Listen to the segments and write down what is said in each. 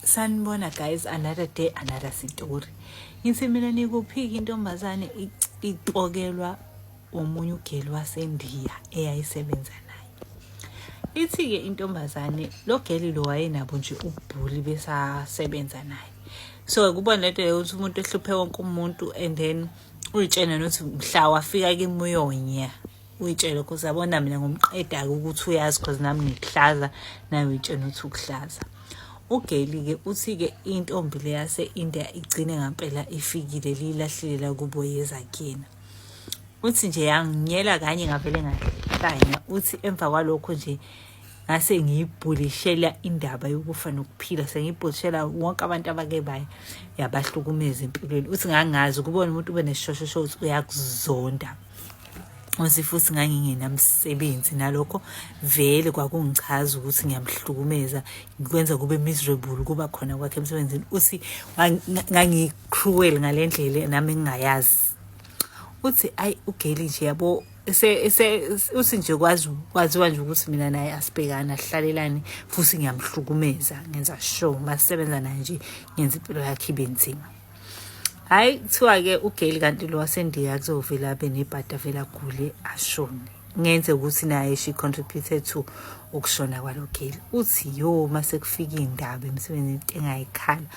sanibona guys another day another story ngithi mina nikuphika intombazane ipokelwa omunye ugeli wasendiya eyayisebenza naye ithi-ke intombazane lo geli lo wayenabo nje ubhuli besasebenza naye so kubona lento yokuthi umuntu ehluphe wonke umuntu and then uyitshena nokuthi mhla wafika kimuyonya uyitshele cause yabona mina ngomqeda-ke ukuthi uyazi cause nami ngikuhlaza naye uyitshena ukuthi ukuhlaza ugeli-ke uthi-ke intombi le yase-india igcine ngampela ifikile liyilahlile la kubo yeza kuyena uthi nje yanginyela kanye ngavele ngahlanya uthi emva kwalokho nje ngase ngiyibhulishela indaba yokufa nokuphila sengiyibhulishela wonke abantu abake baye yabahlukumeza empilweni uthi ngangazi ukubona umuntu ube nesishoshosho uthi uyakuzonda usifusi ngangingenamsebenzi nalokho vele kwakungichaza ukuthi ngiyamhlukumeza ngikwenza kube miserable kuba khona kwakhe emsebenzini uthi ngangicruel ngale ndlela nami ngingayazi uthi ayi ugeli nje yabo uthi nje kwazi kwaziwa nje ukuthi mina naye asibhekani asihlalelani futhi ngiyamhlukumeza ngenza sure uma sisebenza naye nje ngenza impilo yakhe ibe nzima hayi kuthiwa-ke ugeli kanti lo wasendiya kuzovele abe nebhadi avele agule ashone ngenze ukuthi naye she contributed to ukushona kwalo geli uthi yo uma sekufika iy'ndaba emsebenzini into engayikhala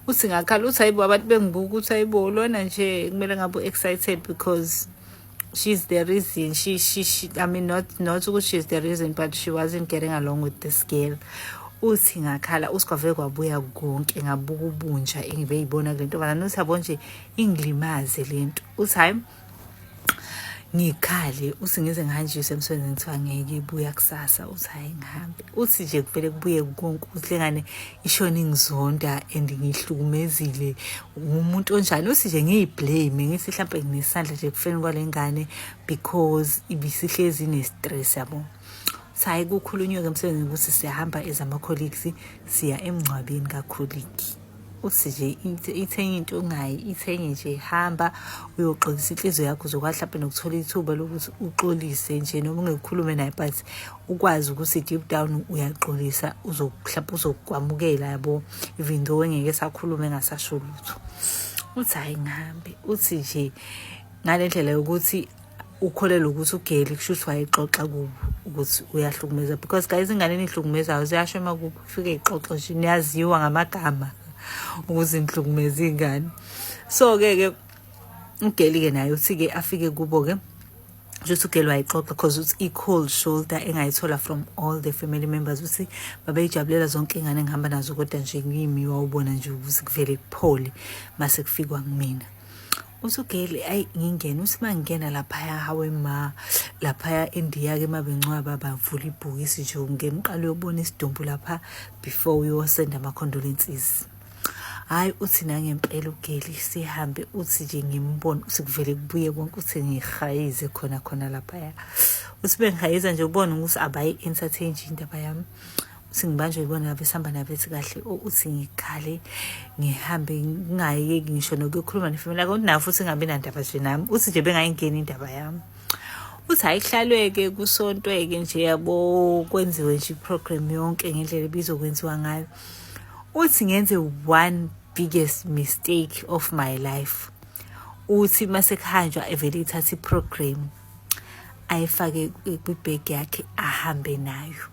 uthi ngakhala uthi hayibo abantu bengibuka ukuthi hayibo lona nje kumele ngabe u-excited because she's the reason she she, she i mean not not ukuthi she's the reason but she wasn't getting along with this girl uthi ngakhala usikwave kwabuya konke ngabuka ubunja engibe yibona kule ntombazane uthi yabo nje ingilimaze le nto uthi hayi ngikhale uthi ngize ngihanjiswe emsebenzini kuthiwa ngeke ibuya kusasa uthi hhayi ngihambe uthi nje kuvele kubuye konke uthi lengane ishona ingizonda and ngihlukumezile ngumuntu onjani uthi nje ngiyiblame ngithi mhlawumbe nginesandla nje kufeni kwale ngane because ibisihlezi ne-stress yabo sayi kukhulunywe-ke emsebenzini ukuthi siyahamba as ama-colleagues siya emngcwabeni kakhuliki uthi nje ithenye into ongayi ithenye nje hamba uyoxolisa inhliziyo yakho uzokwazi mhlawumbe nokuthola ithuba lokuthi uxolise nje noma ungekukhulume naye but ukwazi ukuthi deep down uyaxolisa uzokuhlapha uzokwamukela yabo even though engeke sakhulume engasasho lutho uthi hayi ngihambe uthi nje ngale ndlela yokuthi ukholelwa ukuthi ugeli kusho ukuthi wayexoxa kubo ukuthi uyahlukumeza because guys ingane enihlukumezayo ziyasho uma kufike ixoxo nje niyaziwa ngamagama ukuthi nihlukumeza ingane so-ke ke ugeli-ke naye uthi-ke afike kubo-ke just ugirl wayixoxa because uthi i-cold shoulder engayithola from all the family members ukuthi babeyijabulela zonke ingane engihamba nazo kodwa nje kimi wawubona nje ukuthi kuvele kuphole mase kufikwa kumina uthi ugirl ayi ngingena uthi uma ngingena laphaya hawe ma laphaya endiya-ke uma bencwaba bavula ibhokisi nje ungena uqale uyobona isidumbu lapha before uyosenda ama-condolences hayi uthi nangempela ugeli sihambe uthi nje ngimbone uthi kuvele kubuye konke uthi ngihayize khona khona laphaya uthi bengihayiza nje ubone ukuthi abayi entertain nje indaba yami uthi ngibanjwe ibona ngabe sihamba nabethi kahle uthi ngikhale ngihambe ngingayeki ngisho nokuyokhuluma nefamily yako nafu uthi ngabe nandaba nje nami uthi nje bengayingeni indaba yami uthi ayihlalweke kusontweke nje yabo kwenziwe nje iprogram yonke ngendlela ebizokwenziwa ngayo uthi ngenze one biggest mistake of my life uthi masekuhanjwa evele ithatha iprogram ayifake kwibhegi yakhe ahambe nayo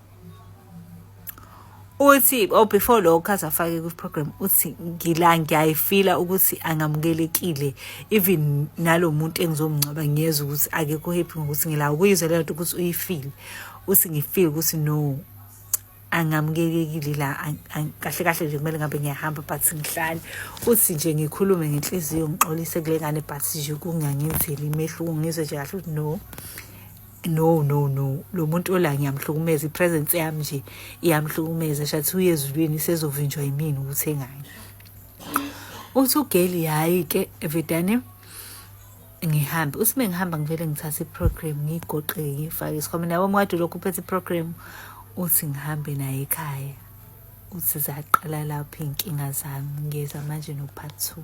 uthi oh before lokho azafake kwiprogram uthi ngila ngiyayifila ukuthi angamukelekile even nalomuntu engizomngcwaba ngiyeza ukuthi akekho happy ngokuthi ngila ukuyizwa lento ukuthi uyifile uthi ngifile ukuthi no angamkelekile la kahle kahle nje kumele ngabe ngiyahamba but ngihlale uthi nje ngikhulume ngenhliziyo ngixolise kule ngane but nje kungangenzeli imehluko ngizwe nje kahle ukuthi no no no no lo muntu ola ngiyamhlukumeza ipresence yami nje iyamhlukumeza shathi uyezulwini sezovinjwa yimini ukuthi engayi uthi ugeli hayi ke evedane ngihambe uthi uma ngihamba ngivele ngithathe iprogram ngiyigoqe ngiyifake esikhwameni yabo mkade lokhu uphethe iprogram uthi ngihambe naye ekhaya uthi zaqala lapho iy'nkinga zami ngiyeza manje no-part two